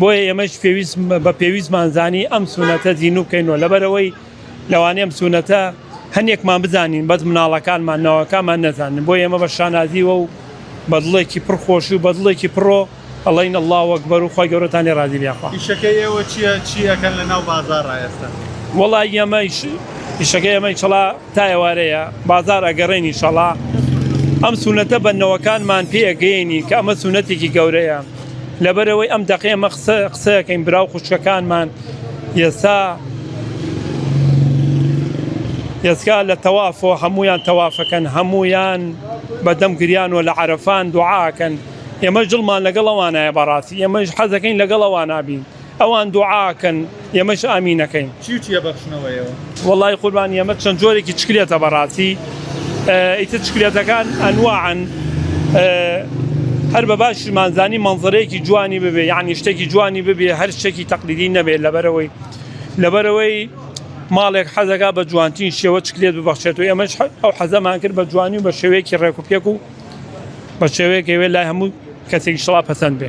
بۆیە ئێمەش پێویست بە پێویستمان زانی ئەم سونەتە زیینو بکەینەوە لەبەرەوەی لەوانەیە ئەم سونەتە هەندێکمان بزانین بەس مناڵەکانمان ناوەکانمان نەزانن بۆ ئێمە بە شانازیوە و بە دڵێکی پڕ خۆش و بە دڵێکی پڕۆ ئەڵین اللە وەکبەر و خۆی گەورەتان لێ ڕازی بێ خوا ئیشەکەی ئێوە چییە چی ئەکەن لە ناو بازاڕا ئێستا؟ وەڵا ئێمەیش ئیشەکەی ئێمەی چڵا تا ئێوارەیە بازار ئەگەڕێین ئیشەڵا ئەم سونەتە بە نەوەکانمان پێ ئەگەیەنین کە ئەمە سونەتێکی گەورەیە لەبەرەوەی ئەم دەقی ئەمە قسە قسەکەین براو خوشکەکانمان ئێستا ئێستا لە تەوافۆ هەمویان تەوافەکەن هەمویان بەدەم گریان و لە عرفان دوعاکەن ئێمە جڵمان لەگەڵ ئەوانایە بەڕاستی ئێمەش حەزەکەین لەگەڵ ئەوانابین ئەوان دوعا ئەکەن ئێمەش ئامین ئەکەین. چی و چی ئەبەخشنەوە ئێوە؟ وەڵایی قوربان ئێمە چەند جۆرێکی چکلێتە بەڕاستی ئیتر چکلێتەکان ئەنواعن هەر بە باشیشمان زانی مەنزەرەیەکی جوانی ببێ یانی شتێکی جوانی ببێ هەر شتێکی تەقلیدی نەبێت لەبەرەوەی لەبەرەوەی ماڵێک حەزەکە بە جوانترین شێوە چکلێت ببەخشێت و ئێمەش ئەو حەزەمان کرد بە جوانی و بە شێوەیەکی ڕێک و پێک و بە شێوەیەکەوێ لای هەموو کەسێکی شڵا پەسەند بێ